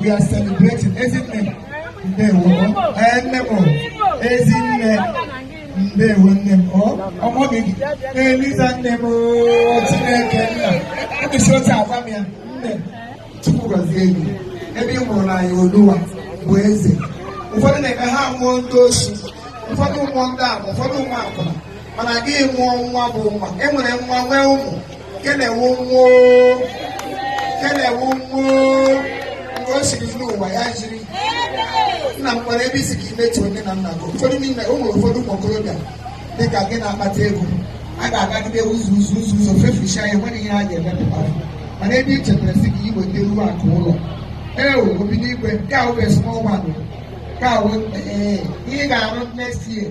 we are celebrating ezinne ndewo nne m ezinne ndewo nne m ọmọ gị eliza nne m chineke nna mkpịsị otu agwa m ya nne m Chukwu gọzie gị ebe ị mụụrụla anyị oluwa bụ eze ụfọdụ na-eme ha mụọ ndị oshi ụfọdụ amụọ ndị ara ụfọdụ amụọ akwụna mana gị amụọ nwa bụ nwa e nwere nwa nwee ụmụ kelewu nwo kelewu nwo mgbe o siri n'ụwa ya jiri nna m nwere ebe ị sị ka i metụ nne na nna gị ụfọdụ n'ime ụmụ ụfọdụ ụmụ okorobịa dị ka gị na-akpata ego a ga-agagide ụzọ ụzọ ụzọ ụzọ feficha ya nwere ihe a ga-emepụta mana ebe i chetara sị ka i weta ruo akụ ụlọ ee obi n'igwe nke ahụ bụ small one nke ahụ ihe ị ga-arụ next year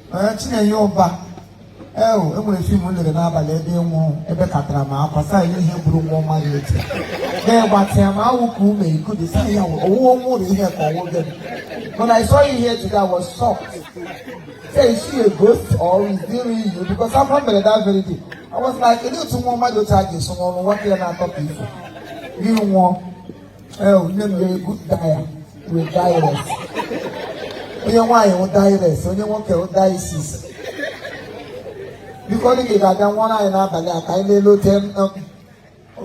Ee, Chinenye Ụba ee o, e nwere fim m lere n'abalị ebe ị nwụrụ ebekatara m akwa saa ya ihe buru nwa ọma ya eti na-egbatịa ma awụ ka ume ikudu saa ya owuwe nwa ụlọ ihe ka ọ wụ gị When I saw you here today, I was shocked. Say, is she a ghost or is it really you? Because I'm not married that very day. I was like, "Kedu otu nwa mmadụ otu a ga-eso n'ọrụ nwa ya na-atọ ka ifo? Gị nwụọ. Oh, nne m you are a good dier with dieress onye nwaanyị wụ dieress onye nwoke wụ disis biko ndị gị ga-abịa nwụọrọ anyị n'abalị a ka anyị na-elote m, um,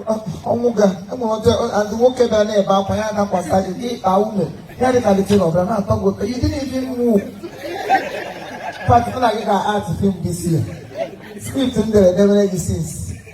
um, ọnwụ ga enwere ọjọ adị nwoke bịa na-ebe akwa ya dakwasa gị gị kpaa ume ya dị ka dị tiri ọbịa na-atọ gị ụtọ you didn't even move pat mụ na gị ga-act film this year script m dere debere gị since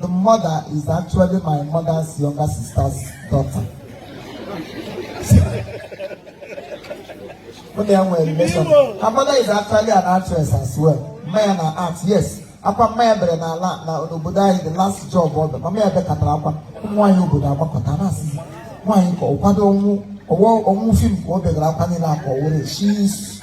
The mother is actually my mother's younger sister's daughter. When they were relation, her mother is actually an actress as well. Mama ya na-act, yes. Akwa mama ya bere na ala na obodo anyị the last job ọ bụ mama ya bekatara akwa ụmụ nwaanyị obodo agbakọta na-asị nwaanyị ka ọ kwado ọnwụ ọnwụ fim ka ọ begara akwa niile akọ were she is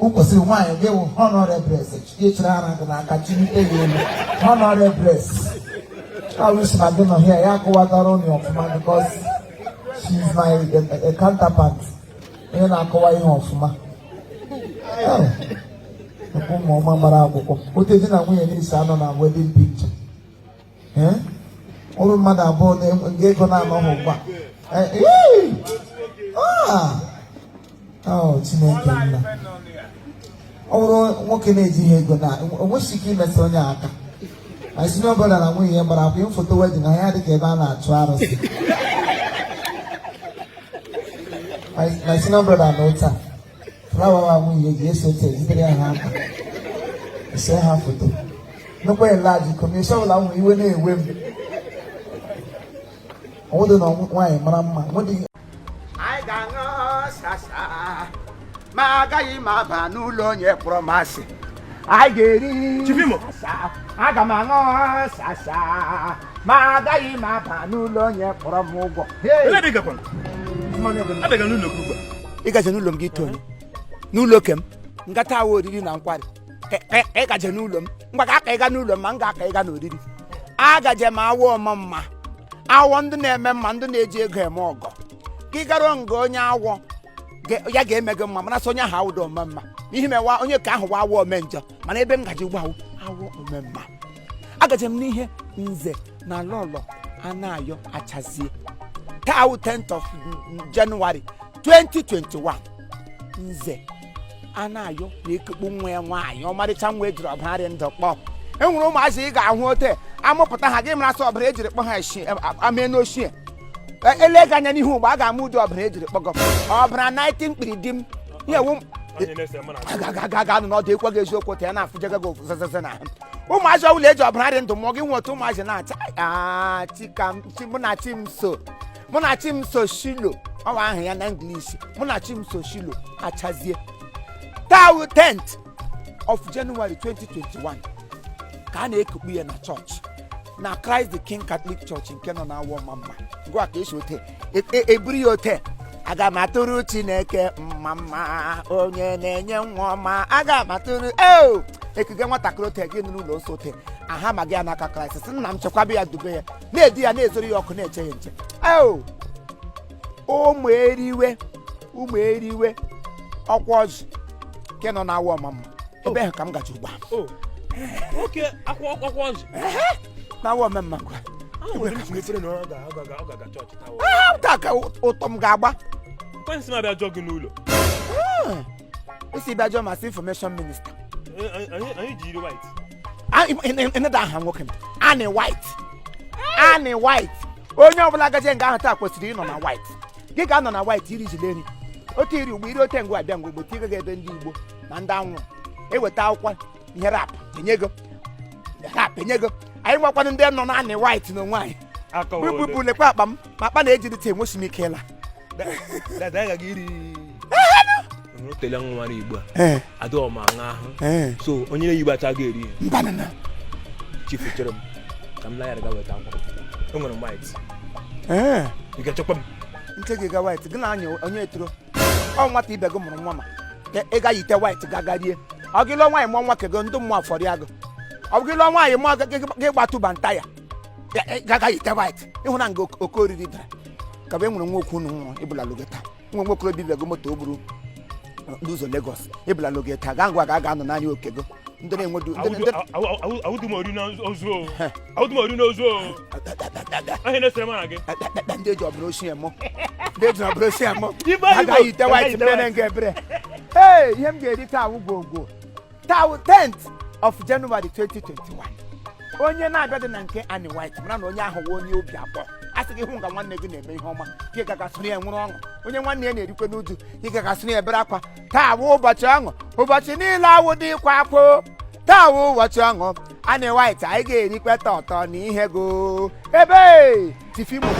o kwesịrị nwaanyị ga-awụ honorables chịrị ara gị n'aka chịlite ya elu honorables I wish Maggi nọ here ya akọwatara ụnụ ọfụma because she is my counterpart onye na-akọwa ihe ọfụma ụmụ ọma gbara akwụkwọ ote di na nwunye na-esi anọ na wedding picture ụrụ mmadụ abụọ nga ego na-anọghị ugbu a Chineke nna ọ bụrụ nwoke na-ejighị ego na o nweghị ike imesa onye aka my senior brother na nwunye ya gbara akwụkwọ foto wedding ha ya dị ka ebe a na-achụ arụsị my senior brother na ụta flawa nwunye ji esi ote e jidere ha aka ese ha foto nnukwu elaji kọmishọn ọbụla nwere iwe na-ewe m ọ wụdị na nwaanyị mara mma anyị ga-aṅụ sasa ma agaghị m aba n'ụlọ onye kpọrọ m asị anyị ga-eri Chivimo. sasa aga m aṅụ sasa ma agaghị m aba n'ụlọ onye kpọrọ m ụgwọ ị gaje n'ụlọ m gị ito onye n'ụlọ oke m ngata awọ oriri na nkwari ị gaje n'ụlọ m ngwa ka aka ịga n'ụlọ m ma m ga-aka ịga n'oriri agaje m awọ ome mma awọ ndị na-eme mma ndị na-eji ego eme ọgọ gị gara nga onye awọ ya ga-eme gị mma mana sọ onye ahụ awụdụ ome mma n'ihi mewa onye ke ahụ wụ awọ ome njọ mana ebe m gaji ugbu a wụ awọ ome mma agaje m n'ihe nze na lọlọ anayọ achazie taa wụ 10th of January 2021 nze anayọ na-ekukpu nwa ya nwaanyị ọmarịcha nwa ejiri ọbara dị ndụ kpụọ e nwere ụmụazị ị ga-ahụ ote amụpụta ha gị mara sọ ọbara ejiri kpụọ ha eshi amee n'ochie ele gị anya n'ihu mgbe a ga-ama ụdị ọbara ejiri kpụọ gị ọbara 19 mkpiri di m ihe wụ ga nụ n'ọdụ ekwe gị eziokwu ta ya na-afụjaga gị zezeze na ụmụazị ọbụla eji ọbara dị ndụ mụọ gị nwe otu ụmụazị na-acha Munachimso Shiloh ọ wụ aha ya na English Munachimso Shiloh achazie taa wụ 10th of January 2021 ka a na-ekukpu ya na chọọchị na Christ the King Catholic Church nke nọ n'awọ ọmamma ngwa ka esi ote e- e- eburu ya ote aga m atụrụ Chineke mma mma onye na-enye nwa ọma aga m atụrụ eo e kuga nwatakịrị ote gị n'ụlọ nsọ ote aha ma gị ya n'aka Kraịst sị nna m chekwaba ya dube ya na-edu ya na-ezoro ya ọkụ na-eche ya nche eo ụmụ eriwe ụmụ eriwe ọkwa ọzụ nke nọ na awa ọmamma ebe ahụ ka m gacha ugbu a o nwoke akwụkwọ akwụkwọ ọzụ na awa ọmamma kwa ahụ nwere ike mefere na ọ ga- ọ ga- ọ ga-aga chọọchị taa Ah, taa ka ụtọ m ga-agba kwansi m abịa jụọ gị n'ụlọ o si bịa jụọ ma sị information minister ịnada aha nwoke m Annie White Annie White onye ọbụla gaje nga ahụ taa kwesịrị ịnọ na white gị ga-anọ na white iri jile nri otu iri ugbo iri ote ngwa abịa ngwa ugbo ti ị gaghị ebe ndị igbo na ndị anwụrụ eweta akwụkwọ ihe rap enye ego rap enye ego anyị nwakwanụ ndị nọ na Annie White n'onwe anyị akọwa ole. bụbụ lekwa akpa m ma akpa na-eji dịta enwesi m ike ịla Dada, anyị gaga iri Nụrụ tele nwa na igbo a ee adịghị ọma aṅa ahụ ee so onye na-eyibo acha ga eri mbanana chifu chere m ka m layara ga weta akwa enwere m white ee ị ga-echekwa m nche gị ga white gị na anya onye etoro ọ nwata ibe gị mụrụ nwa ma ị ga yite white gagarie ọ gị lụọ nwaanyị mụọ nwa kego ndị mmụọ afọrị agụ ọ bụ gị lụọ nwaanyị mụọ gị- gị- gị gbatụba nta ya Ya- ya- gaga yite white ịhụna nga oke- oke oriri dara ka bụ e nwere nwa okwu unu nwụrụ ịbụla logo taa nwa nwa okorobịa bịago moto o buru n'ụzọ Lagos ịbụla logo taa gaa ngwa ga aga anọ n'anya okego ndị na-enwedu ndị- ndị- awụdum ori na ozu o Auto mo ri no zo. Ahe na sema nage. Nde jo bro si emo. Nde jo bro si emo. A ga yite white mene nge bre. Hey, ihe m ga-eri taa wụ gwogwo. Taa wụ 10th of January 2021. Onye na-abịadị na nke Annie White mara na onye ahụ wụ onye obi abụọ a sị gị hụ nga nwanne gị na-eme ihe ọma gị gagasịrị ya nwere ọṅụ onye nwanne ya na-erikwe n'uju gị gagasịrị ya bere akwa taa wụ ụbọchị ọṅụ ụbọchị niile awụdị ịkwa akwa taa wụ ụbọchị ọṅụ Annie White anyị ga-erikwe tọtọ na ihe go ebe tifimo